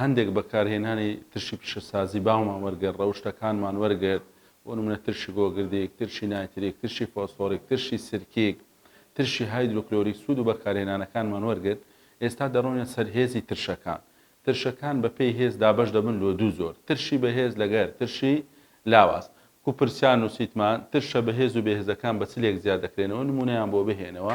هەندێک بەکارهێنانی ترشی پیشەسازی باومان وەرگرت، ڕەوشتەکانمان وەرگرت، بۆ نموونە ترشی گۆگردیک، ترشی نایتریک، ترشی فۆسفۆریک، ترشی سرکیک، ترشی هایدرۆکلۆریک سوود و بەکارهێنانەکانمان وەرگرت، ئێستا دەڕۆینە سەر هێزی ترشەکان، ترشەکان بەپێی هێز دابەش دەبن لۆ دوو جۆر، ترشی بەهێز لەگەر ترشی لاواز، کو پرسیار نووسیتمان ترشە بەهێز و بێهێزەکان بە چ لێک جیا دەکرێنەوە، نموونەیان بۆ بهێنەوە،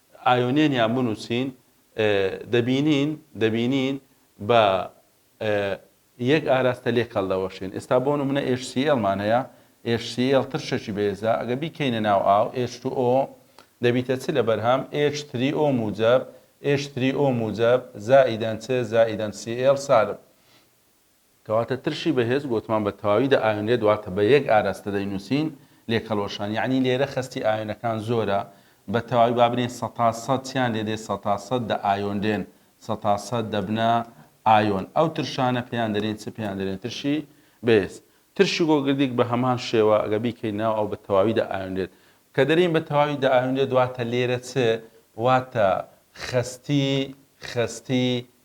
ئایۆنێن یان بنووسین دەبینین دەبینین بە یەک ئاراستە لێک هەڵدەوەشێن. ئێستا بۆ نموونە HCl مان هەیە، HCl ترشێکی بەهێزە، ئەگەر بیکەینە ناو ئاو H2O دەبیتە چ لە بەرهەم؟ H3O موجەب، H3O موجەب، زائیدەن چ؟ زائیدەن Cl سالب. کەواتە ترشی بەهێز گۆتمان بە تەواوی دەئاوێنرێت واتە بە یەک ئاراستە دەینووسین، لێکهەڵوەشان، یەعنی لێرە خەستی ئاوێنەکان زۆرە، بە تەواوی با بلێین سەتا سەد چیان لێ دێت سەتا سەد دەئایۆنرێن، سەتا سەد دەبنە ئایۆن، ئەو ترشانە پێیان دەلێین چ؟ پێیان دەلێن ترشی بەهێز. ترشی گۆگردیک بە هەمان شێوە گە بیکەین ناو ئاو بە تەواوی دەئایۆنرێت. کە دەلێین بە تەواوی دەئایۆنرێت واتە لێرە چ؟ واتە خەستی خەستی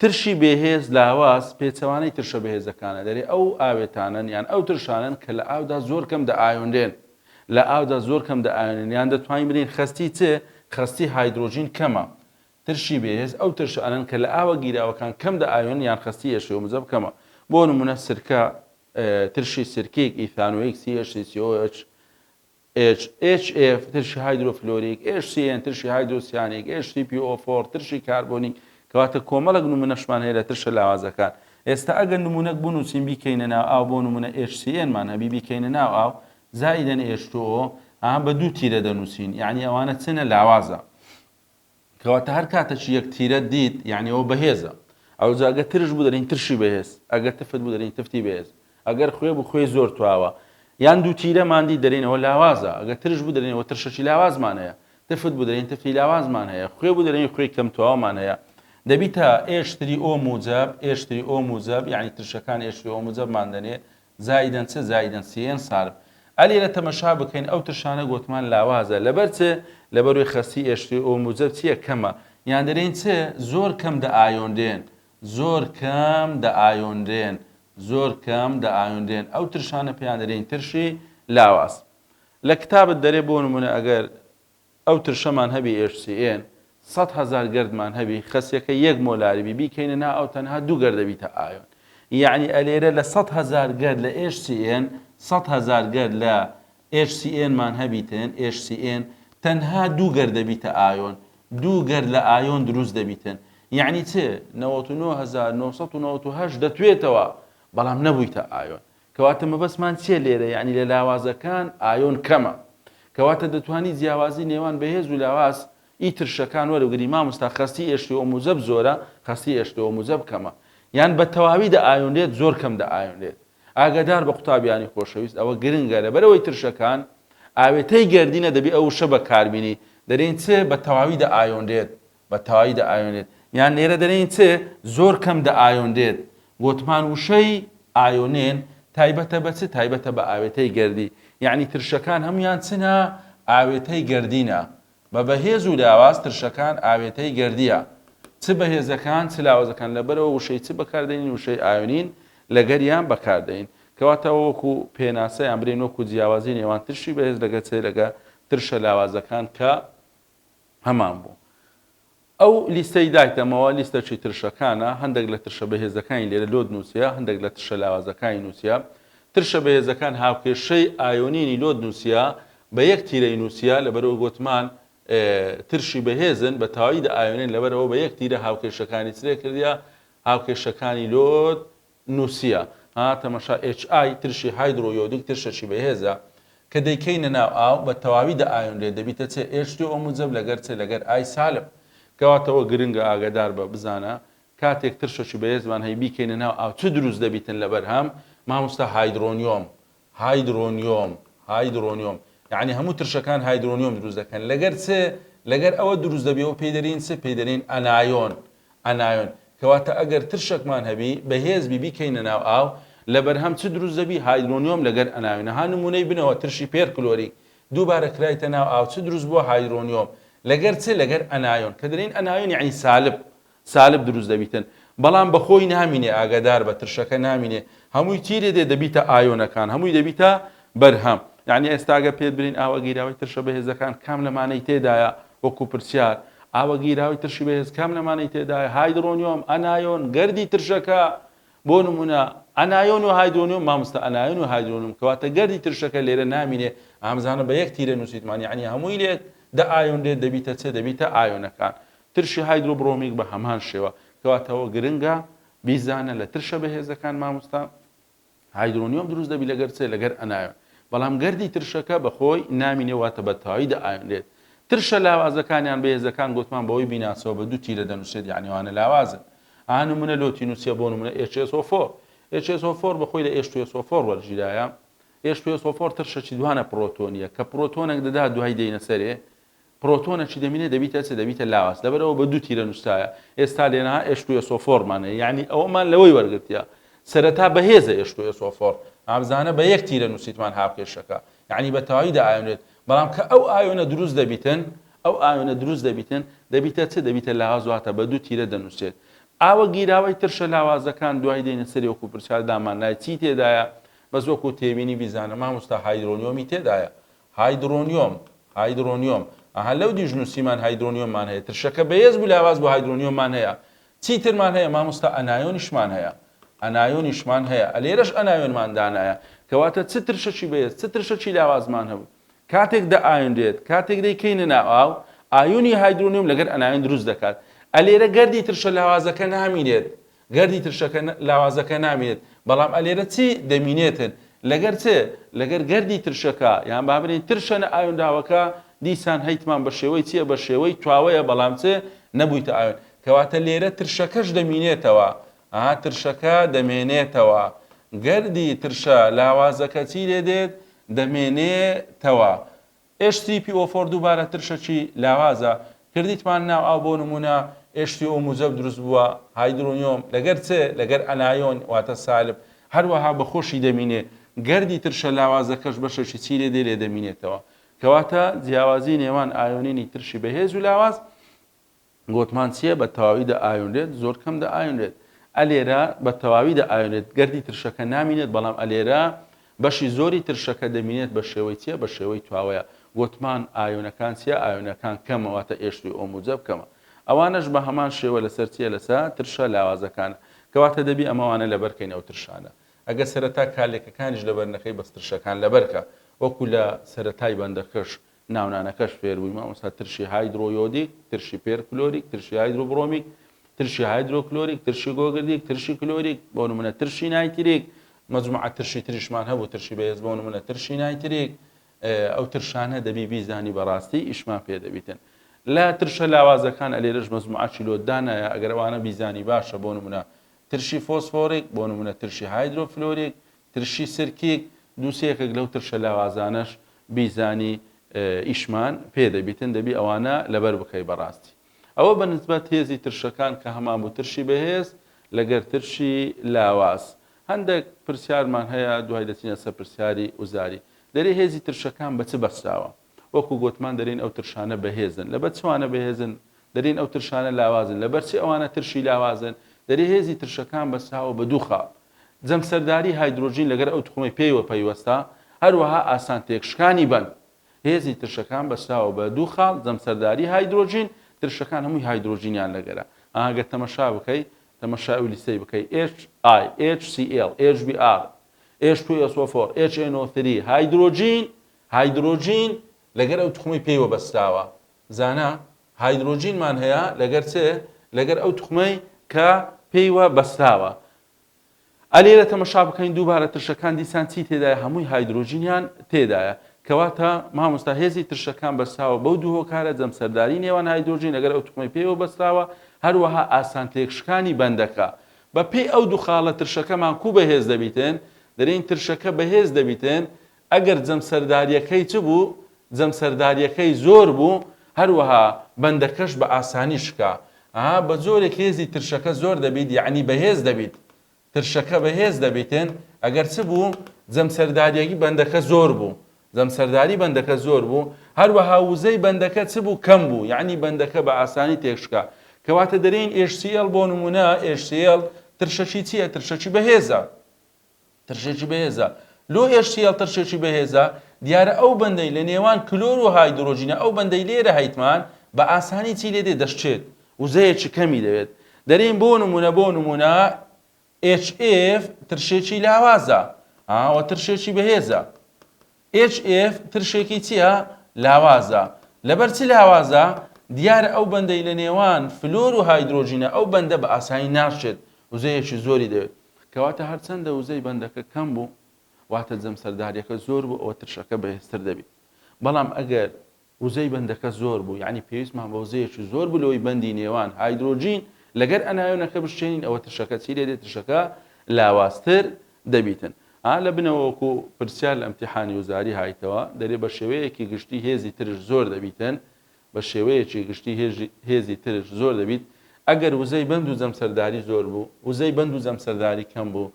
ترشی بێهێز، لاواز، پێچەوانەی ترشە بەهێزەکانە، دەرێ ئەو ئاوێتانەن یان ئەو ترشانەن کە لە ئاودا زۆر کەم دەئایۆنرێن، لە ئاودا زۆر کەم دەئایۆنرێن یان دەتوانین بلێین خەستی چ؟ خەستی هایدرۆجین کەمە. ترشی بێهێز، ئەو ترشانەن کە لە ئاوە گیراوەکان کەم دەئایۆنن یان خەستی ئێشێ و مزەب کەمە. بۆ نموونە سرکە، ترشی سرکیک، ئیثانۆیک، CH3COOH، ئێچ، ئێچ ئێف، ترشی هایدرۆفلۆریک، ئێچ سی ئێن، ترشی هایدرۆسیانیک، ئێچ سی پی ئۆ فۆر، ترشی کاربۆنی، کەواتە کۆمەڵێک نمونەشمان هەیە لە ترشە لاوازەکان. ئێستا ئەگەر نمونەک بنوسین بیکەینە ناو ئاو بۆ نمونە ئێچ سی ئێن مان هەبی بیکەینە ناو ئاو زائیدەن ئێچ تو ئۆ ئا بە دوو تیرە دەنوسین یانی ئەوانە چنە لاوازە. کەواتە هەر کاتەکی یەک تیرەت دیت یەعنی ئەوە بەهێزە ئەوجا گەر ترش بوو دەرین ترشی بەهێز ئەگەر تفت بوو دەرین تفتی بەهێز ئەگەر خوێ بوو خوێی زۆر تواوە یان دوو تیرەمان دی دەرین ئەوە لاوازە ئەگەر ترش بوو دەرین ئەوە ترشەکی لاوازمان هەیە تفت بوو دەرین تفتی لاوازمان هەیە خوێ بوو دەرین خوێی کەم تواوەمان هەیە دەبیتە ئێشتری ئۆ موجەب ئێشتری ئۆ موجەب یعنی ترشەکان ئێشتری ئۆ موجەبمان دەنێ زائیدەن چ زائیدەن سیێن سارم ئە لێرە تەمەشا بکەین ئەو ترشانە گۆتمان لاوازە لەبەر چ لەبەروی خەستی ئێشتری ئۆ موجەب چیە کەمە یان دەرێین چ زۆر کەم دە ئایۆنرێن زۆر کەم دە ئایۆنرێن زۆر کەم دە ئایۆنرێن ئەو ترشانە پێیان دەرێین ترشی لاواز لە کتابت دەرێ بۆ نمونە ئەگەر ئەو ترشەمان هەبی HCN سەد هەزار گەردمان هەبی خەسیەکە یەک مۆلاری بی بیکەینە نا ئەو تەنها دوو گەرد دەبیتە ئایۆن یەعنی ئەلێرە لە سەد هەزار گەرد لە HCN سەد هەزار گەرد لە HCN مان هەبیتن HCN تەنها دوو گەرد دەبیتە ئایۆن دوو گەرد لە ئایۆن دروست دەبیتن یەعنی چ نەوەت و نۆ هەزار نۆ سەد و نەوەت و هەشت دەتوێتەوە بەڵام نەبوویتە ئایۆن کەواتە مەبەستمان چیە لێرە یەعنی لە لاوازەکان ئایۆن کەمە کەواتە دەتوانی جیاوازی نێوان بەهێز و لاواز ی ترشەکان وەربگری ماموستا خەستی ئێشتۆ و موجەب زۆرە خەستی ئێشتۆ و موجەب کەمە یان بە تەواوی دە ئایۆنرێت زۆر کەم دە ئایۆنرێت ئاگادار بە قوتابیانی خۆشەویست ئەوە گرنگە لەبەرئەوەی ترشەکان ئاوێتەی گەردینە دەبی ئەو وشە بەکاربینی دەرێن چ بە تەواوی دە ئایۆنرێت بە تەوایی دە ئایۆنێت یان لێرە دەلێین چ زۆر کەم دە ئایۆنرێت گۆتمان وشەی، ئایۆنێن، تایبەتە بە چ تایبەتە بە ئاوێتەی گەردی یانی ترشەکان هەموویان چنە ئاوێتەی گەردینە بە بەهێز و لاواز ترشەکان ئاوێتەی گەردیە چ بەهێزەکان چ لاوازەکان لەبەرەوە وشەی چ بەکاردێنین وشەی ئایۆنین لەگەریان بەکاردێین کەواتەوە وەکو پێناسەیان برین وەکو جیاوازی نێوان ترشی بەهێز لەگە چ لەگە ترشە لاوازەکان کە هەمان بوو. ئەو لیستەی دایتەمەوە لیستە چی ترشەکانە، هەندێک لە ترشە بەهێزەکانی لێرە لۆد نووسییە، هەندێک لە ترشە لاوازەکانی نووسییە. ترشە بەهێزەکان هاوکێشەی ئایۆنینی لۆد نووسییە، بە یەک تیرەی نووسییە، لەبەرئەوەی گۆتمان ترشی بەهێزن، بە تەواوی دەئایۆنێن، لەبەرئەوە بە یەک تیرە هاوکێشەکانی چرێ کردییە، هاوکێشەکانی لۆد نوسیە ها تەمەشا ئێچ ئای ترشی هایدرۆ یۆدیک ترشەکی بەهێزە کە دەیکەینە ناو ئاو بە تەواوی دەئایۆنرێت دەبیتە چێ ئێچ دوو ئۆ موجەب لەگەر چێ لەگەر ئای سالب کەواتەوە گرنگە ئاگەدار بە بزانە کاتێک ترشەکی بەهێزمان هەی بیکەینە ناو ئاو چ دروست دەبیتن لەبەرهەم ماموستا هایدرۆنیۆم هایدرۆنیۆم، Hydronium، یەعنی هەموو ترشەکان هایدرۆنیۆم دروست دەکەن، لەگەر چ؟ لەگەر ئەوە دروست دەبی و پێی دەرین چ؟ پێی دەرین ئەنایۆن، Anion، کەواتە ئەگەر ترشەکمان هەبی بەهێز بی بیکەینە ناو ئاو لەبەرهەم چ دروست دەبی؟ هایدرۆنیۆم لەگەر ئەنایۆن ها نمونەی بنەوە ترشی پێرکلۆریک دووبارە کرایتە ناو ئاو چ دروست بووە؟ هایدرۆنیۆم لەگەر چ؟ لەگەر ئەنایۆن کە دەرین ئەنایۆن یەعنی سالب سالب دروست دەبیتن بەڵام بەخۆی نامینێ ئاگاداربە ترشەکە نامینێ هەمووی تیرێ دێ دەبیتە ئایۆنەکان هەمووی دەبیتە بەرهەم یعنی ئێستا گەر پێت برین ئاوە گیراوەی ترشە بەهێزەکان کام لەمانەی تێدایە وەکو پرسیار ئاوە گیراوی ترشی بەهێز کام لەمانەی تێدایە هایدرۆنیۆم ئەنایۆن گردی ترشەکە بۆ نمونە ئەنایۆن و هایدرۆنیۆم مامۆستا ئەنایۆن و هایدرۆنیۆم کەواتە گردی ترشەکە لێرە نامینێ ئامزانە بە یەک تیرە نووسیتمان یعنی هەمووی لێت دە ئایۆن لێت دەبیتە چێ دەبیتە ئایۆنەکان ترشی هایدرۆبرۆمیک بە هەمان شێوە. کەواتەوە گرنگە بیزانە لە ترشە بەهێزەکان مامۆستا هایدرۆنیۆم دروست دەبی لەگەر چێ لەگەر ئەنایۆن بەڵام گەردی ترشەکە بەخۆی نامینێ واتە بە تەواوی دەئایۆنرێت ترشە لاوازەکانیان بەهێزەکان گوتمان بەوەی بیناسەوە بە دوو تیرە دەنووسێت یعنی وانە لاوازن ئا نمونە لۆ تینوسیە بۆ نمونە HSO4 HSO4 بەخۆی لە H2SO4 وەرگیرایە HPSO4 ترشەکی دوانە پرۆتۆنیە کە پرۆتۆنێک دەدا دوای دێینە سەرێ پرۆتۆنە چ دەمینێ دەبیتە چ دەبیتە لاواز لەبەرئەوە بە دوو تیرە نووسرایە ئێستا لێرەها ئێش تو ئێسۆ فۆر مان هەیە یەعنی ئەوەمان لەوەی وەرگرتیە سەرەتا بەهێزە ئێش تو ئێسۆ فۆر ئابزانە بە یەک تیرە نووسیتمان هاوکێشەکە یەعنی بە تەواوی دائایۆنێت بەڵام کە ئەو ئایۆنە دروست دەبیتن ئەو ئایۆنە دروست دەبیتن دەبیتە چ دەبیتە لاواز واتە بە دوو تیرە دەنووسێت ئاوە گیراوەی ترشە لاوازەکان دوای دێنە سەری وەکو پرسیار دامان نای چی تێدایە بەس وەکو تێبینی بیزانە مامۆستا هایدرۆنیۆمی تێدایە هایدرۆنیۆم، Hydronium، ئەها لەو دیش نوسیمان هایدرۆنیۆممان هەیە ترشەکە بەهێز بوو لاواز بوو هایدرۆنیۆممان هەیە چیترمان هەیە مامۆستا ئەنایۆنیشمان هەیە ئەنایۆنیشمان هەیە ئەلێرەش ئەنایۆنمان دانایە کەواتە چ ترشەکی بەهێز چ ترشەکی لاوازمان هەبوو کاتێک دە ئایۆنرێت کاتێک دەی کەینە ناو ئاو ئایۆنی هایدرۆنیۆم لەگەر ئەنایۆن دروست دەکات ئەلێرە گەردی ترشە لاوازەکە نامینێت گەردی ترشەکە لاوازەکە نامینێت، بەڵام ئەلێرە چی دەمینێتن؟ لەگەر چ؟ لەگەر گەردی ترشەکە، یان با بلێین ترشە نەئایۆنراوەکە، دیسان هەیتمان بە شێوەی چیە؟ بە شێوەی تواوەیە بەڵام چ؟ نەبویتە ئایۆن. کەواتە لێرە ترشەکەش دەمینێتەوە. ئا ترشەکە دەمێنێتەوە. گەردی ترشە لاوازەکە چی لێدێت؟ دەمێنێتەوە. ئێچ تی پی ئۆ فۆر دووبارە ترشەکی لاوازە کردیتمان ناو ئاو بۆ نموونە ئێچ تی ئۆ موجەب دروست بووە هایدرۆنیۆم لەگەر چ لەگەر ئەنایۆن واتە سالب هەروەها بە خۆشی دەمینێ گەردی ترشە لاوازەکەش بەشەکی چی لێ دێ لێ دەمینێتەوە کەواتە جیاوازی نێوان ئایۆنینی ترشی بەهێز و لاواز گۆتمان چیە بە تەواوی دە ئاوێنرێت زۆر کەم دە ئاوێنرێت ئە لێرە بە تەواوی دە ئاوێنێت گەردی ترشەکە نامینێت بەڵام ئە لێرە بەشی زۆری ترشەکە دەمینێت بە شێوەی چیە بە شێوەی تواوەیە گۆتمان ئاوێنەکان چیە ئاوێنەکان کەمە واتە ئێشتوی ئۆ موجە بکەمە ئەوانەش بە هەمان شێوە لەسەر چیە لەسا ترشە لاوازەکان کەواتە دەبی ئەمەوانە لەبەرکەین ئەو ترشانە ئەگە سەرەتا کالێکەکانیش لەبەر نەکەی بەسترشەکان لەبەرکە وەکو لە سەرەتای بەندەکەش ناونانەکەش فێر بووی مامۆستا ترشی هایدرۆ یۆدیک ترشی پێر کلۆریک ترشی هایدرۆ بڕۆمیک ترشی هایدرۆ کلۆریک ترشی گۆگردیک ترشی کلۆریک بۆ نمونە ترشی نایتریک مجموعە ترشی تریشمان هەبوو ترشی بەهێز بۆ نمونە ترشی نایتریک ئەو ترشانە دەبی بیزانی بەڕاستی ئیشمان پێ دەبیتن لە ترشە لاوازەکان ئەلێرەش مەزموعاچی لۆدانایە ئەگەرەوانە بیزانی باشە بۆ نمونە ترشی فۆسفۆریک بۆ نمونە ترشی هایدرۆفلۆریک ترشی سرکیک، دوو سێ یەکێک لەو ترشە لاوازانەش بیزانی ئیشمان پێ دەبیتن دەبی ئەوانە لەبەر بکەی بەڕاستی ئەوە بە نسبەت هێزی ترشەکان کە هەمان بوو ترشی بەهێز لەگەر ترشی لاواز هەندێک پرسیارمان هەیە دوای دەچینە سەر پرسیاری وزاری دەری هێزی ترشەکان بە چ بەسراوە وەکو گۆتمان دەرێن ئەو ترشانە بەهێزن. لەبەر چ وانە بەهێزن؟ دەرێن ئەو ترشانە لاوازن. لەبەر چ ئەوانە ترشی لاوازن؟ دەرێ هێزی ترشەکان بەساوە بە دوو خاڵ. جەمسەرداری هایدرۆجین لەگەر ئەو توخمەی پێیوە پەیوەستە، هەروەها ئاسان تێکشکانی بەن. هێزی ترشەکان بەساوە بە دوو خاڵ، جەمسەرداری هایدرۆجین، ترشەکان هەمووی هایدرۆجینیان لەگەرە. ئەها گەر تەمەشا بکەی، تەمەشای ئەو لیستەی بکەی، HIHCl، HBr، H2SO4، HNO3، هایدرۆجین، هایدرۆجین لەگەر ئەو توخمەی پێی وەبەستراوە زانا هایدرۆجینمان هەیە لەگەر چ لەگەر ئەو توخمەی کە پێی وە بەستراوە ئە لێرە تەمەشا بکەین دووبارە ترشەکان دیسان چی تێدایە هەمووی هایدرۆجینیان تێدایە کەواتە مامۆستا هێزی ترشەکان بەستراوە بەو دوو هۆکارە جەمسەرداری نێوان هایدرۆجین لەگەر ئەو توخمەی پێوە بەستراوە هەروەها ئاسان تێکشکانی بەندەکە بەپێی ئەو دوو خاڵە ترشەکەمان کو بەهێز دەبیتن دەرین ترشەکە بەهێز دەبیتن ئەگەر جەمسەردارییەکەی چ بوو؟ جەمسەردارییەکەی زۆر بوو، هەروەها بەندەکەش بە ئاسانی شکا. ئه بە جۆرێک هێزی ترشەکە زۆر دەبیت یەعنی بەهێز دەبیت. ترشەکە بە هێز دەبیتن ئەگەر چ بوو؟ جەمسەرداریی بەندەکە زۆر بوو. جەمسەرداری بەندەکە زۆر بوو، هەروەها وزەی بەندەکە چ بوو؟ کەم بوو، یەعنی بەندەکە بە ئاسانی تێک شکا. کەواتە دەرێین HCL بۆ نموونە HCL ترشەکی چییە؟ ترشەکی بەهێزە. ترشێکی بەهێزە. لۆ HCL ترشێکی بەهێزە؟ دیارە ئەو بەندەی لە نێوان کلۆر و هایدرۆجینە ئەو بەندەی لێرە هەیتمان بە ئاسانی چی لێ دێ دەشچێت وزەیەکی کەمی دەوێت دەرێن بۆ نمونە بۆ نمونە HF ترشێکی لاوازە ئاوە ترشێکی بەهێزە HF ترشێکی چیە؟ لاوازە. لەبەر چ لاوازە؟ دیارە ئەو بەندەی لە نێوان فلۆر و هایدرۆجینە ئەو بەندە بە ئاسایی ناشچێت، وزەیەکی زۆری دەوێت. کەواتە هەرچەندە وزەی بەندەکە کەم بوو، واتە جەمسەرداریەکە زۆر بوو ئەوە ترشەکە بەهێزتر دەبیت. بەڵام ئەگەر وزەی بەندەکە زۆر بوو یانی پێویستمان بە وزەیەکی زۆر بوو لەوەی بەندی نێوان هایدرۆجین لەگەر ئەنایۆنەکە بشکێنین ئەوە ترشەکە چی دەێت ترشەکە لاوازتر دەبیتن ئا لە بنەوە وەکو پرسیار لە ئەمتیحانی وزاری هایتەوە دەێ بە شێوەیەکی گشتی هێزی ترش زۆر دەبیتن بە شێوەیەکی گشتی هێزی ترش زۆر دەبیت ئەگەر وزەی بەند و جەمسەرداری زۆر بوو وزەی بەند و جەمسەرداری کەم بوو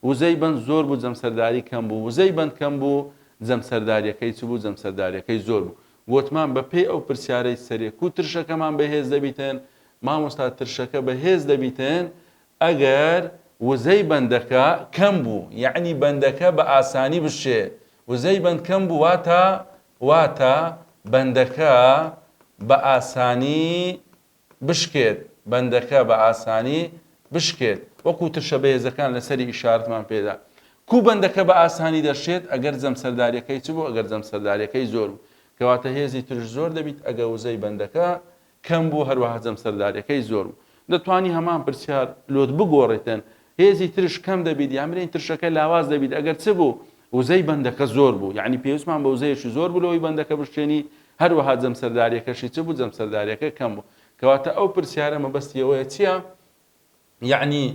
وزەی بەند زۆر بوو جەمسەرداری کەم بوو وزەی بەند کەم بوو جەمسەرداریەکەی چ بوو جەمسەرداریەکەی زۆر بوو وتمان بە پێی ئەو پرسیارەی سەرێ کو ترشەکەمان بەهێز دەبیتن مامۆستا ترشەکە بەهێز دەبیتن ئەگەر وزەی بەندەکە کەم بوو یعنی بەندەکە بە ئاسانی بشێ وزەی بەند کەم بوو واتە واتە بەندەکە بە ئاسانی بشکێت، بەندەکە بە ئاسانی بشکێت، وەکو ترشە بەهێزەکان لە سەری ئیشارەتمان پێدا. کوو بەندەکە بە ئاسانی دەشکێت؟ ئەگەر جەمسەرداریەکەی چ بوو؟ ئەگەر جەمسەرداریەکەی زۆر بوو، کەواتە هێزی ترش زۆر دەبیت، ئەگە وزەی بەندەکە کەم بوو، هەروەها جەمسەرداریەکەی زۆر بوو. دەتوانی هەمان پرسیار لۆت بگۆڕیتن هێزی ترش کەم دەبیت یان برێن ترشەکە لاواز دەبیت ئەگەر چ بوو وزەی بەندەکە زۆر بوو یعنی پێویستمان بە وزەیەکی زۆر بوو لەوەی بەندەکە بشکێنی هەروەها جەمسەرداریەکەشی چ بوو جەمسەرداریەکە کەم بوو کەواتە ئەو پرسیارە مەبەستی ئەوەیە چییە یعنی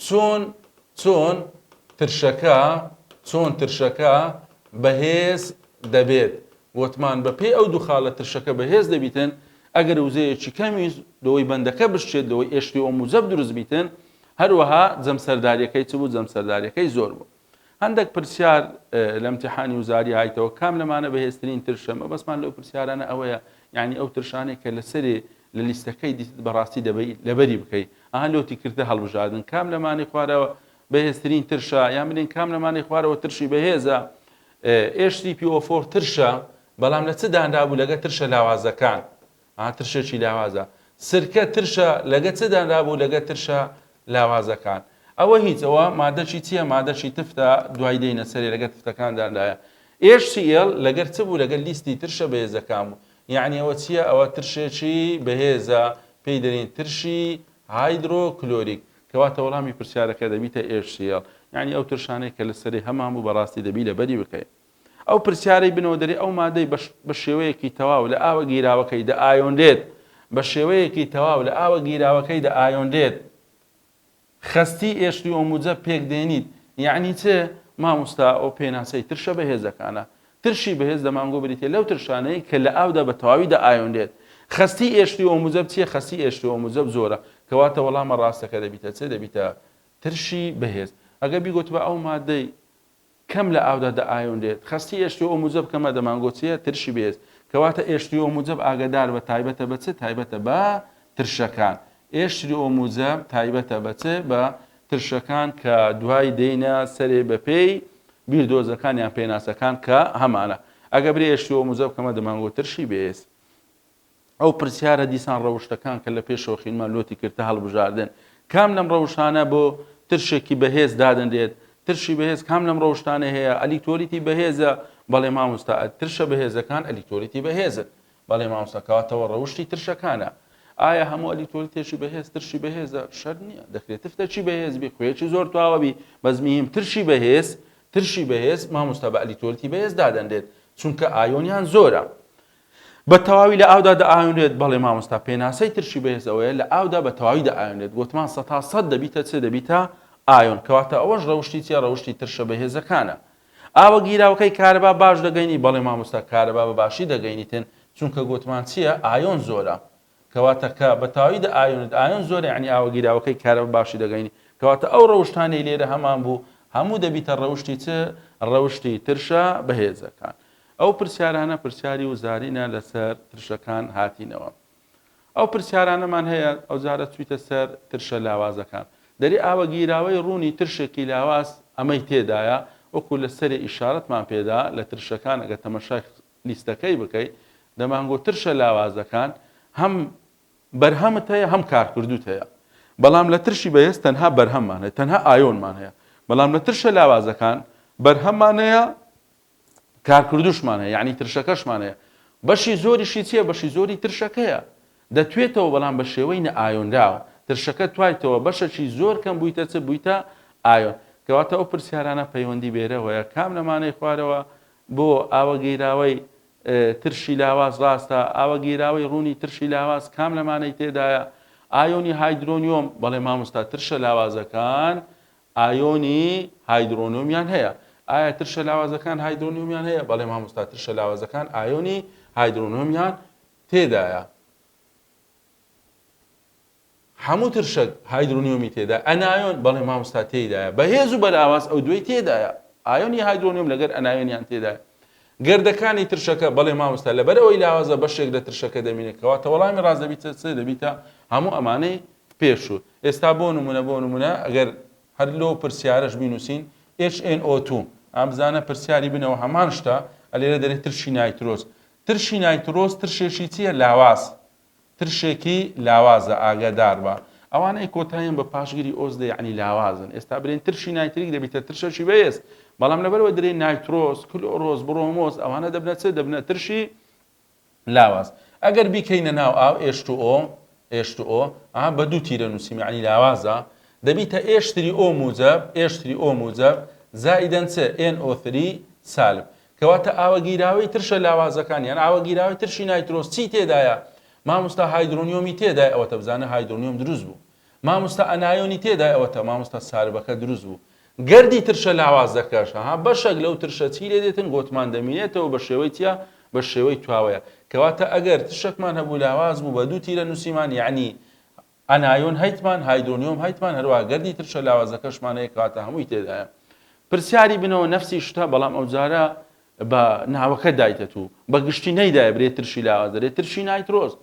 چۆن چۆن ترشەکە چۆن ترشەکە بەهێز دەبێت وتمان بە پێی ئەو دوخا لە ترشەکە بەهێز دەبیتن ئەگەر وزەیەکی کەمیش لەوەی بەندەکە بشێت لەوەی ئێشتی ئەو موجەب دروست بیتن هەروەها جەمسەرداریەکەی چ بوو جەمسەرداریەکەی زۆر بوو هەندەک پرسیار لە امتحانی وزاری هایتەوە کام لەمانە بەهێزترین ترشە مەبەستمان لەو پرسیارانە ئەوەیە یعنی ئەو ترشانێک کە لەسەرێ لە لیستەکەی دیتت بەڕاستی دەبەی لەبەری بکەی ئەها لۆتی کردە هەڵبژاردن کام لەمانەی خوارەوە بەهێزترین ترشە یان بلین کام لەمانەی خوارەوە ترشی بەهێزە ئێش سی پی ئۆ فۆر ترشە بەڵام لە چ دانرابوو لەگە ترشە لاوازەکان ئا ترشێکی لاوازە. سرکە ترشە لەگە چ دانرابوو لەگە ترشە لاوازەکان ئەوە هیچ ئەوە مادەکی چیە مادەکی تفتە دوای دێینە سەرێ لەگە تفتەکان دانرایە HCL لەگەر چ بوو لەگەر لیستی ترشە بەهێزەکان بوو یەعنی ئەوە چیە ئەوە ترشێکی بەهێزە پێی دەرین ترشی هایدرۆ کلۆریک کەواتە وەڵامی پرسیارەکە دەبیتە HCL یەعنی ئەو ترشانەی کە لە سەرێ هەمان بوو بەڕاستی دەبی لەبەری بکەی. ئەو پرسیارەی بنەوەدەری ئەو مادەی بە شێوەیەکی تەواو لە ئاوە گیراوەکەی دە ئایۆنرێت بە شێوەیەکی تەواو لە ئاوە گیراوەکەی دە ئایۆنرێت خەستی ئێشتی ئۆموجە پێک دێنیت یعنی چێ ماموستا ئەو پێناسەی ترشە بەهێزەکانە ترشی بەهێز دەمانگۆ بریتێ لەو ترشانەی کە لە ئاودا بە تەواوی دە ئایۆنرێت خەستی ئێشتی ئۆموجەب چیە خەستی ئێشتی ئۆموجەب زۆرە کەواتە وەڵامە ڕاستەکە دەبیتە چێ دەبیتە ترشی بەهێز ئەگە بیگوتبە ئەو مادەی کەم لە ئاودا دەئایۆنرێت. خەستی ئێشتیۆ موجەب کەمە دەمانگۆچیە ترشی بەهێز. کەواتە ئێشتیۆ موجەب ئاگەدار بە تایبەتە بە چ؟ تایبەتە بە ترشەکان. ئێشتیۆ موجەب تایبەتە بە چ؟ بە ترشەکان کە دوای دێنە سەرێ بە پێی بیردۆزەکان یان پێناسەکان کە هەمانە. ئەگە برێ ئێشتیۆ موجەب کەمە دەمانگۆ ترشی بەهێز. ئەو پرسیارە دیسان ڕەوشتەکان کە لە پێشەوە خینمان لۆتی کردتە هەڵبژاردن کام لەم ڕەوشانە بۆ ترشێکی بەهێز دادەنرێت ترشی بەهێز کام لەم ڕەوشتانە هەیە ئەلیکتۆریتی بەهێزە بەڵێ مامۆستا ترشە بەهێزەکان ئەلیکتۆریتی بەهێزن بەڵێ مامۆستاکەواتەوە ڕەوشی ترشەکانە ئایا هەموو ئەلیکتۆریتێکی بەهێز ترشی بەهێزە شەر نییە دەکرێت تفتەکی بەهێزبی خوێکی زۆر تواوەبی بەزمییم ترشی بەهێز ترشی بەهێز مامۆستا بە ئەلیکتۆریتی بەهێز دادەنرێت چونکە ئایۆنیان زۆرە بە تەواوی لە ئاودا دەئاوێنرێت؟ بەڵێ مامۆستا، پێناسەی ترشی بەهێز ئەوەیە لە ئاودا بە تەواوی دەئاوێنرێت، گۆتمان سەتا سەد دەبیتە چ؟ دەبیتە ئایۆن، کەواتە ئەوەش ڕەوشتی چیە؟ ڕەوشتی ترشە بەهێزەکانە. ئاوە گیراوەکەی کارەبا باش دەگەینی؟ بەڵێ مامۆستا، کارەبا بە باشی دەگەینیتن، چونکە گۆتمان چیە؟ ئایۆن زۆرە. کەواتە کە بە تەواوی دە ئایۆنت، ئایۆن زۆر یەعنی ئاوە گیراوەکەی کارەبە باشی دەگەینی، کەواتە ئەو ڕەوشتانەی لێرە هەمان بوو هەموو دەبیتە ڕەوشتی چ؟ ڕەوشتی ترشە بەهێزەکان. ئەو پرسیارانە پرسیاری وزارینە لەسەر ترشەکان هاتینەوە. ئەو پرسیارانەمان هەیە ئەوجارە چویتە سەر ترشە لاوازەکان. دەرێ ئاوە گیراوەی ڕوونی ترشێکی لاواز ئەمەی تێدایە وەکو لە سەرێ ئیشارەتمان پێدا لە ترشەکان ئەگەر تەمەشای لیستەکەی بکەی دەمانگۆ ترشە لاوازەکان هەم بەرهەمت هەیە هەم کارکردوت هەیە بەڵام لە ترشی بەهێز تەنها بەرهەممان هەیە تەنها ئایۆنمان هەیە بەڵام لە ترشە لاوازەکان بەرهەممان هەیە کارکردوشمان هەیە یعنی ترشەکەشمان هەیە بەشی زۆریشی چیە بەشی زۆری ترشەکەیە دەتوێتەوە بەڵام بە شێوەی نە ئایۆنراوە ترشەکە توایتەوە بەشەکی زۆر کەم بوویتە چ بوویتە ئایۆن کەواتە ئەو پرسیارانە پەیوەندی بێرەوەیە کام لەمانەی خوارەوە بۆ ئاوە گیراوەی ترشی لاواز ڕاستە؟ ئاوە گیراوەی ڕوونی ترشی لاواز کام لەمانەی تێدایە؟ ئایۆنی هایدرۆنیۆم، بەڵێ مامۆستا ترشە لاوازەکان ئایۆنی هایدرۆنۆمیان هەیە. ئایا ترشە لاوازەکان هایدرۆنیۆمیان هەیە؟ بەڵێ مامۆستا ترشە لاوازەکان ئایۆنی هایدرۆنۆمیان تێدایە. هەموو ترشەک هایدرۆنیۆمی تێدایە ئەنایۆن بەڵێ مامۆستا تێیدایە بەهێز و بەلاواز ئەو دوێی تێدایە ئایۆنی هایدرۆنیۆم لەگەر ئەنایۆنیان تێدایە گردەکانی ترشەکە بەڵێ مامۆستا لەبەر ئەوەی لاوازە بەشێک لە ترشەکە دەمینێت کەواتە وەڵامی ڕاست دەبیت سێ دەبیتە هەموو ئەمانەی پێشوو ئێستا بۆ نمونە بۆ نمونە ئەگەر هەر لۆ پرسیارش بینوسین HNO2 ئەم بزانە پرسیاری بنەوە هەمان شتە ئەلێرە دەرێت ترشی نایترۆز ترشی نایترۆز ترشێکی چییە لاواز ترشێکی لاوازە ئاگاداربە ئەوانەی کۆتاییان بە پاشگری ئۆز دێ یەعنی لاوازن ئێستا برێن ترشی نایتریک دەبیتە ترشەکی بەێز بەڵام لەبەرەوە درێ نایترۆس کلۆرۆس بڕۆمۆس ئەوانە دەبنە چ دەبنە ترشی لاواز ئەگەر بیکەینە ناو ئاو ئێشت ئۆ ئێشت ئۆ ئەها بە دوو تیرە نووسیم یعنی لاوازە دەبیتە ئێشتری ئۆ موجب ئێشتری ئۆ موجب زائدەن چ ئێن ئۆ3 سالب کەواتە ئاوە گیراوەی ترشە لاوازەکان یان ئاوە گیراوەی ترشی نایترۆس چی تێدایە ماموستا هایدرۆنیۆمی تێدای ئەوەتە بزانە هایدرۆنیۆم دروست بوو ماموستا ئەنایۆنی تێدای ئەوەتە ماموستا ساربەکە دروست بوو گردی ترشە لاوازەکەش ها بەشەک لەو ترشە چی لێ دێتن گۆتمان دەمینێتەوە بە شێوەی چیا بە شێوەی تواوەیە کەواتە ئەگەر تشەکمان هەبوو لاواز بوو بە دوو تیرە نووسیمان یعنی ئانایۆن هەیتمان، هایدرۆنیۆم هەیتمان، هەروەها گەردی ترشە لاوازەکەشمان هەیە کەواتە هەمووی تێدایە. پرسیاری بنەوە نەفسی شتە بەڵام ئەوجارە بە ناوەکە دایتە تو بە گشتی نەیدایە برێ ترشی لاواز دەرێ ترشی نایترۆز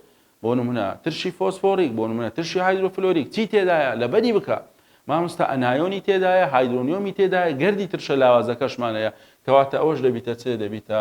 بۆ نمونە ترشی فۆسفۆریک بۆ نمونە ترشی هایدرۆفلۆریک چی تێدایە لەبەری بکە مامۆستا ئەنایۆنی تێدایە هایدرۆنیۆمی تێدایە گەردی ترشە لاوازەکەشمانەیە کەواتە ئەوەش دەبیتە چێ دەبیتە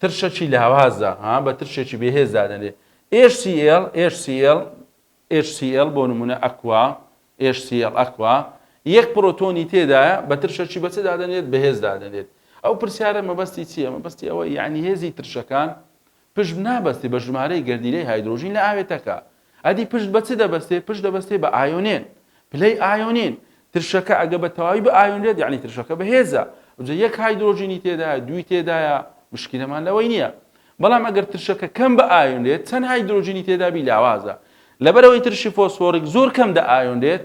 ترشەکی لاوازە، ها بە ترشێکی بێهێز دادەنرێت. HCL، HCL، HCL، بۆ نموونە ئەکوا، HCL، ئەکوا، یەک پرۆتۆنی تێدایە، بە ترشەکی بە چ دادەنرێت؟ بەهێز دادەنرێت. ئەو پرسیارە مەبەستی چییە؟ مەبەستی ئەوەی یانی هێزی ترشەکان پشت نابەستێت بە ژمارەی گەردیلەی هایدرۆژین لە ئاوێتەکە. ئەدی پشت بە چ دەبەستێ؟ پشت دەبەستێ بە ئایۆنێن. پلەی ئایۆنین. ترشەکە ئەگە بە تەواوی بئایۆنرێت یانی ترشەکە بەهێزە. ئەوجە یەک هایدرۆجینی تێدایە، دووی تێدایە، مشکیلەمان لەوەی نییە. بەڵام ئەگەر ترشەکە کەم بئایۆنرێت، چەند هایدرۆجینی تێدابی لاوازە. لەبەرئەوەی ترشی فۆسفۆڕیک زۆر کەم دەئایۆنرێت،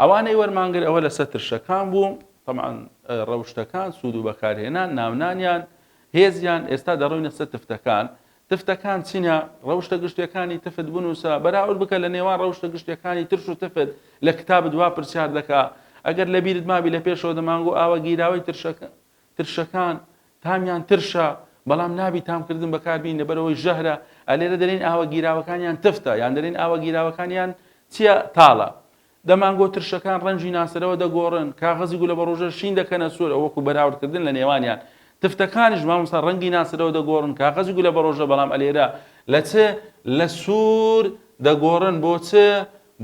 ئەوانەی وەرمانگر ئەوە لەسەر ترشەکان بوو، تەبعەن ڕەوشتەکان، سوود و بەکارهێنان، ناونانیان، هێزیان، ئێستا دەڕۆینە سەر تفتەکان، تفتەکان چینە؟ ڕەوشتە گشتیەکانی تفت بنووسە، بەراورد بکە لە نێوان ڕەوشتە گشتیەکانی ترش و تفت، لە کتابت وا پرسیار دەکا، ئەگەر لەبیرت مابی لە پێشەوە دەمانگو ئاوە گیراوەی ترشەکە، ترشەکان تامیان ترشە بەڵام نابی تام کردن بەکار بین لەبەرەوەی ژەهرە ئەلێرە دەلین ئاوە گیراوەکانیان تفتە یان دەلین ئاوە گیراوەکانیان چیە تاڵە دەمانگۆ ترشەکان ڕەنجی ناسەرەوە دەگۆڕن کاغەزی گولە بەڕۆژە شین دەکەنە سوور ئەوەکو بەراوردکردن لە نێوانیان تفتەکانیش مامۆستا ڕەنگی ناسەرەوە دەگۆڕن کاغەزی گولە بەڕۆژە بەڵام ئەلێرە لە چ لە سوور دەگۆڕن بۆ چ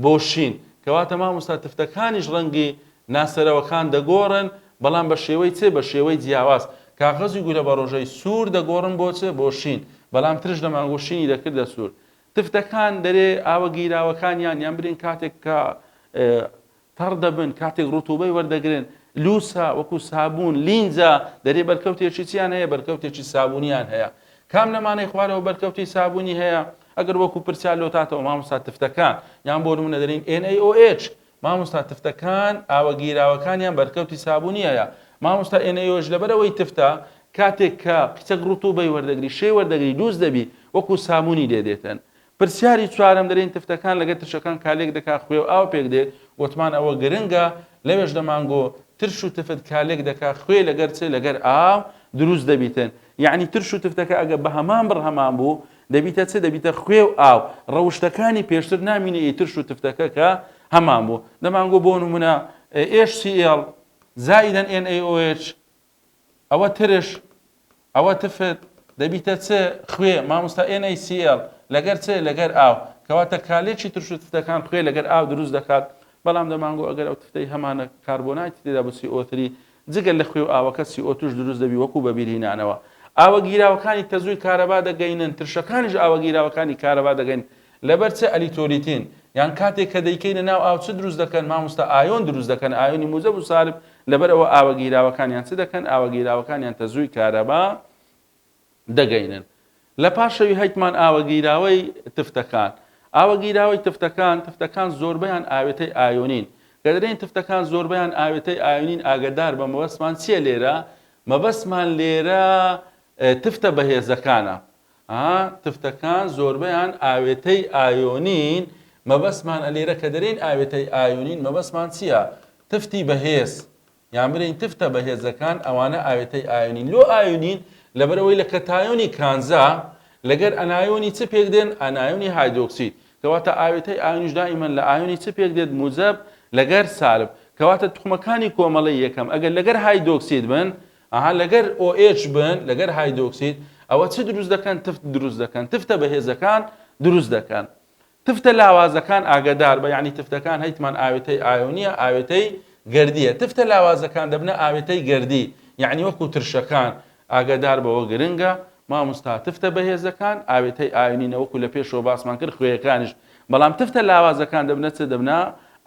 بۆ شین، کەواتە مامۆستا تفتەکانیش ڕەنگی ناسەرەوەکان دەگۆڕن بەڵام بە شێوەی چ؟ بە شێوەی جیاواز، کاغەزی گورە بە ڕۆژەی سوور دەگۆڕم بۆ چ؟ بۆ شین، بەڵام ترش دەمانگوت شینی دەکردە سوور. تفتەکان دەرێ ئاوە گیراوەکانیان یان برین کاتێک کە تەڕ دەبن، کاتێک ڕوتوبەی وەردەگرن، لووسە، وەکوو سابوون، لینجە، دەرێ بەرکەوتێکی چیان هەیە؟ بەرکەوتێکی سابوونیان هەیە. کام لەمانەی خوارەوە بەرکەوتی سابوونی هەیە؟ ئەگەر وەکو پرسیار لۆتاتەوە مامۆستا تفتەکان یان بۆ نمونە دەرین NaOH مامۆستا تفتەکان ئاوە گیراوەکانیان بەرکەوتی سابونی هەیە مامۆستا NaOH لەبەرەوەی تفتە کاتێک کە قیچەک ڕوتوبەی وەردەگری شێ وەردەگری دووست دەبی وەکو سابونی لێ دێتن پرسیاری چوارەم دەرین تفتەکان لەگەر ترشەکان کالێک دەکا خوێ و ئاو پێک دێ وتمان ئەوە گرنگە لەوێش دەمانگۆ ترش و تفت کالێک دەکا خوێ لەگەر چ لەگەر ئاو دروست دەبیتن یەعنی ترش و تفتەکە ئەگەر بە هەمان بڕ هەمان بوو دەبیتە چ دەبیتە خوێ و ئاو ڕەوشتەکانی پێشتر نامینە ئی ترش و تفتەکە کە هەمان بوو دەمانگۆ بۆ نمونە HCl زائدا NaOH ئەوە ترش ئەوە تفت دەبیتە چ خوێ مامۆستا NaCl لەگەر چ لەگەر ئاو کەواتە کالێکی ترش و تفتەکان خوێ لەگەر ئاو دروست دەکات بەڵام دەمانگۆ ئەگەر ئەو تفتەی هەمانە کاربۆنایتی تێدا بچی ئۆتری جگە لە خوێ و ئاوەکە سی ئۆ توش دروست دەبی وەکو بەبیرهینانەوە ئاوە گیراوەکانی تەزووی کارەبا دەگەینن ترشەکانیش ئاوە گیراوەکانی کارەبا دەگەین لەبەر چ ئەلیتۆلیتین یان کاتێک کە دەیکەینە ناو ئاو چ دروست دەکەن ماموستا ئایۆن دروست دەکەن ئایۆنی موجەب و سالب لەبەر ئەوە ئاوە گیراوەکانیان چ دەکەن ئاوە گیراوەکانیان تەزووی کارەبا دەگەینن لە پاشەوی هەیتمان ئاوە گیراوەی تفتەکان ئاوە گیراوەی تفتەکان تفتەکان زۆربەیان ئاوێتەی ئایۆنین کە دەرێن تفتەکان زۆربەیان ئاوێتەی ئایۆنین ئاگدار بە مەبەستمان چیە لێرە مەبەستمان لێرە تفتە بەهێزەکانە تفتەکان زۆربەیان ئاوێتەی ئایۆنین مەبەستمان ئەلێرە کە دەرێن ئاوێتەی ئایۆنین مەبەستمان چییە تفتی بەهێز یان برێین تف تە بە هێزەکان ئەوانە ئاوێتەی ئایۆنین لۆ ئایۆنین لەبەر ئەوەی لە کەتایۆنی کانزا لەگەر ئەنایۆنی چ پێک دێن ئەنایۆنی هایدۆکسید کەواتە ئاوێتەی ئایۆنیش دائیمەن لە ئایۆنی چ پێک دێت موجەب لەگەر سالب کەواتە توخمەکانی کۆمەڵەی یەکەم ئەگەر لەگەر هایدۆکسید بن ئەها لەگەر OH بن لەگەر هایدۆکسید ئەوە چ دروست دەکەن تفت دروست دەکەن تفتە بەهێزەکان دروست دەکەن تفتە لاوازەکان ئاگەداربە یانی تفتەکان هەیتمان ئاوێتەی ئایۆنیە ئاوێتەی گەردیە تفتە لاوازەکان دەبنە ئاوێتەی گەردی یانی وەکو ترشەکان ئاگەدار بەوە گرنگە ماموستا تفتە بەهێزەکان ئاوێتەی ئاینی نەوەکو لە پێشەوە باسمان کرد خوێەکانیش بەڵام تفتە لاوازەکان دەبنە چ دەبنا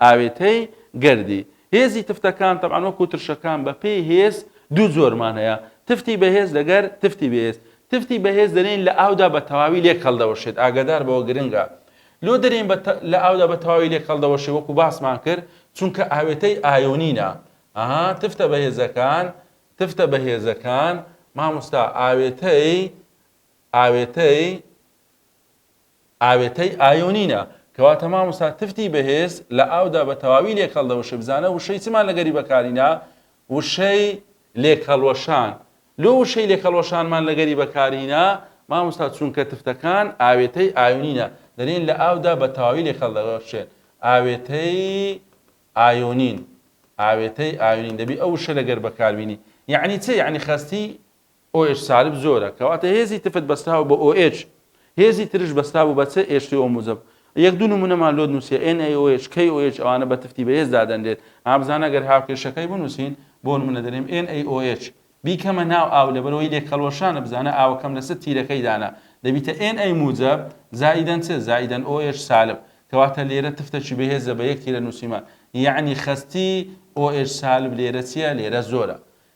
ئاوێتەی گەردی هێزی تفتەکان تەبان وەکو ترشەکان بە پێی هێز دوو زۆرمان هەیە تفتی بەهێز لەگەر تفتی بێز تفتی بەهێز دەرێین لە ئاودا بە تەواوی لێک هەڵدەوەشێت ئاگادار بەوە گرنگە لۆ دەرێین بە لە ئاودا بە تەواوی لێک هەڵدەوەشێ وەکو باسمان کرد چونکە ئاوێتەی ئایۆنینە ئەها تفتە بەهێزەکان تفتە بەهێزەکان ماموستا ئاوێتەی ئاوێتەی ئاوێتەی ئایۆنینە. کەواتە مامۆستا تفتی بەهێز لە ئاودا بە تەواوی لێک هەڵدەوەشێ بزانە وشەی چمان لەگەری بەکارینا وشەی لێک هەڵوەشان لۆ وشەی لێک هەڵوەشانمان لەگەری بەکارهینا مامۆستا چونکە تفتەکان ئاوێتەی ئایۆنینە دەلێن لە ئاودا بە تەواوی لێک هەڵدەوەشێن ئاوێتەی ئایۆنین ئاوێتەی ئایۆنین دەبی ئەو وشە لەگەر بەکاربینی یعنی چ یعنی خەستی OH سالب زۆرە کەواتە هێزی تفت بەستراوە بە OH هێزی ترش بەسترابوو بە چ ئێچ تی ئۆ موجەب یەک دوو نمونەمان لۆ نووسیە ئێن ئەی ئۆ ئێچ کەی ئۆ ئێچ ئەوانە بە تفتی بەهێز دادەنرێت ئا بزانە گەر هاوکێشەکەی بنووسین بۆ نمونە دەرێم ئێن ئەی ئۆ ئێچ بیکەمە ناو ئاو لەبەرەوەی لێک هەڵوەشانە بزانە ئاوەکەم لەسەر تیرەکەی دانا دەبیتە ئێن ئەی موجەب زائیدەن چ زائیدەن ئۆ ئێچ سالب کەواتە لێرە تفتەکی بەهێزە بە یەک تیرە نووسیمان یعنی خەستی ئۆ ئێچ سالب لێرە چییە لێرە زۆرە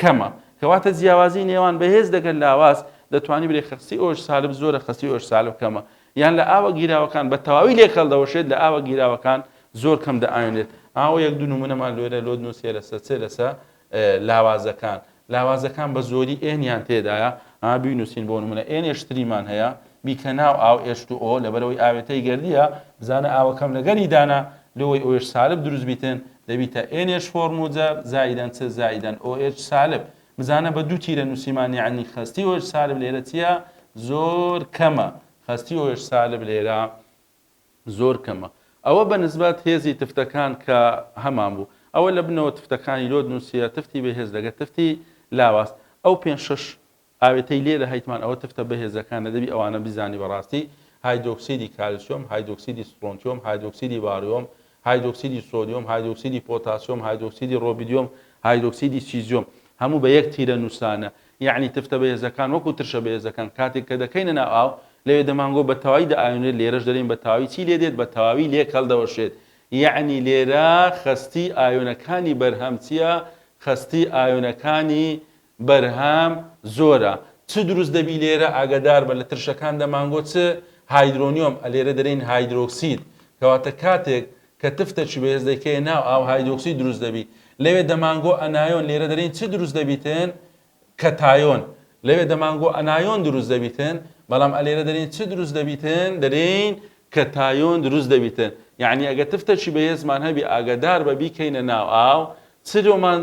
کەمە کەواتە جیاوازی نێوان بەهێز لەگەل لاواز دەتوانی بلێ خەستی ئۆش سالب زۆرە خەستی ئۆش سالب کەمە یان لە ئاوە گیراوەکان بە تەواوی لێک هەلدەوەشێت لە ئاوە گیراوەکان زۆر کەم دەئاوێنێت ئاوە یەک دوو نمونەمان لۆێرە لۆد نوسێ لەسە چێ لەسە لاوازەکان لاوازەکان بە زۆری ئێن یان تێدایە ها بینوسین بۆ نمونە ئێن ئێشتریمان هەیە بیکە ناو ئاو ئێچ تو ئۆ لەبەرئەوەی ئاوێتەی گەردییە بزانە ئاوە کەم لەگەری دانە لۆوەی ئۆێچ سالب دروست بیتن دەبیتە ئێن ئێچ فۆر موجەب زائیدەن چ زائیدەن ئۆ ئێچ سالب بزانە بە دوو تیرە نووسیمان یەعنی خەستی ئۆێچ سالب لێرە چییە زۆر کەمە خەستی ئۆێچ سالب لێرە زۆر کەمە ئەوە بە نسبەت هێزی تفتەکان کە هەمان بوو ئەوە لە بنەوە تفتەکانی لۆت نووسە تفتی بەهێز لەگە تفتی لاواز ئەو پێ شش ئاوێتەی لێرە هەیتمان ئەوە تفتە بەهێزەکانە دەبی ئەوانە بیزانی بەڕاستی هایدرۆکسیدی کالسیۆم هایدرۆکسیدی سترۆنتیۆم هایدرۆکسیدی باریۆم هایدرۆکسیدی سۆدیۆم هایدرۆکسیدی پۆتاسیۆم هایدرۆکسیدی ڕۆبیدیۆم هایدرۆکسیدی سیزیۆم هەموو بە یەک تیرە نووسرانە یەعنی تفتە بەهێزەکان وەکو ترشە بەهێزەکان کاتێک کە دەکەینە ناو ئاو لەوێ دەمانگۆ بە تەواوی دەئاوێنرێت لێرەش دەلێن بە تەواوی چی لێدێت بە تەواوی لێک هەڵدەوەشێت یەعنی لێرە خەستی ئاوێنەکانی بەرهەم چییە خەستی ئاوێنەکانی بەرهەم زۆرە چ دروست دەبی لێرە ئاگەدار بە لە ترشەکان دە مانگۆ چ هایدرۆنیۆم ئە لێرە دەرێین هایدرۆکسید کەواتە کاتێک کە تفتە چی بەهێز دەیکەیە ناو ئاو هایدۆکسید دروست دەبی لەوێ دە مانگۆ ئەنایۆن لێرە دەرێین چ دروست دەبیتن کەتایۆن لەوێ دە مانگۆ ئەنایۆن دروست دەبیتن بەڵام ئە لێرە دەرێین چ دروست دەبیتن دەرێین کەتایۆن دروست دەبیتن یعنی ئەگە تفتە چی بەهێزمان هەبی ئاگەدار بە بیکەینە ناو ئاو چ لۆمان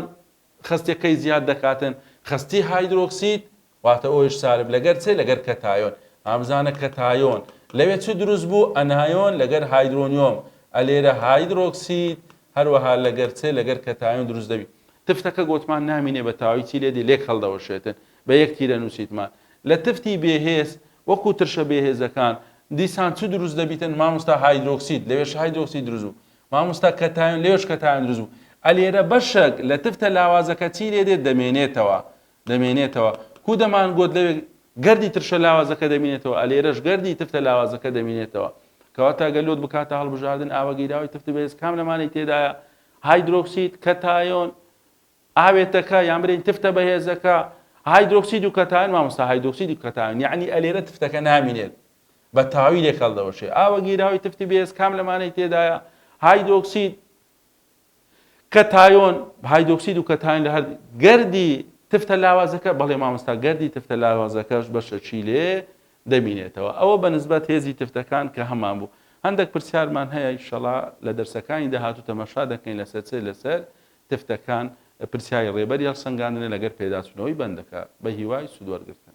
خەستی قەی زیاد دەکاتن خەستی هایدرۆکسید واتە ئۆیش سالب لەگەر چێ لەگەر کەتایۆن ئامزانە کەتایۆن لەوێ چ دروست بوو ئەنایۆن لەگەر هایدرۆنیۆم ئەلێرە هایدرۆکسید هەروەها لەگەر چێ لەگەر کەتایۆن دروست دەبی تفتەکە گۆتمان نامینێ بە تاوی چی لێدی لێک هەڵدەوەشێتن بە یەک تیرە نووسیتمان لە تفتی بێهێز وەکو ترشە بێهێزەکان دیسان چ دروست دەبیتن مامۆستا هایدرۆکسید لەوێش هایدرۆکسید دروست بوو ماموستا کەتایۆن لەوێش کەتایۆن دروست بوو ئەلێرە بەشەک لە تفتە لاوازەکە چی لێ دێت دەمێنێتەوە دەمێنێتەوە کو دەمان گۆت لەوێ گردی ترشە لاوازەکە دەمینێتەوە ئەلێرەش گردی تفتە لاوازەکە دەمینێتەوە کەواتە گەر لۆت بکاتە هەڵبژاردن ئاوە گیراوی تفت بێز کام لەمانی تێدایە هایدرۆکسید کەتایۆن ئاوێتەکە یان برین تفتە بەهێزەکە هایدرۆکسید و کەتایۆن مامۆستا هایدرۆکسید و کەتایۆن یعنی ئەلێرە تفتەکە نامینێت بە تاویلێک هەڵدەوەشێ. ئاوە گیراوی تفتی بێز کام لەمانەی تێدایە؟ هایدۆکسید، کەتایۆن، هایدۆکسید و کەتایۆن لە هەر گەردی تفتە لاوازەکە بەڵێ مامۆستا گەردی تفتە لاوازەکەش بەشە چی لێ دەبینێتەوە ئەوە بە نسبەت هێزی تفتەکان کە هەمان بوو هەندێک پرسیارمان هەیە شەڵا لە دەرسەکانی داهاتوو تەمەشا دەکەین لەسەر چێ لەسەر تفتەکان پرسیاری ڕێبەری هەڵسەنگاندنە لەگەر پێداچوونەوەی بەندەکە بە هیوای سوودوەرگتن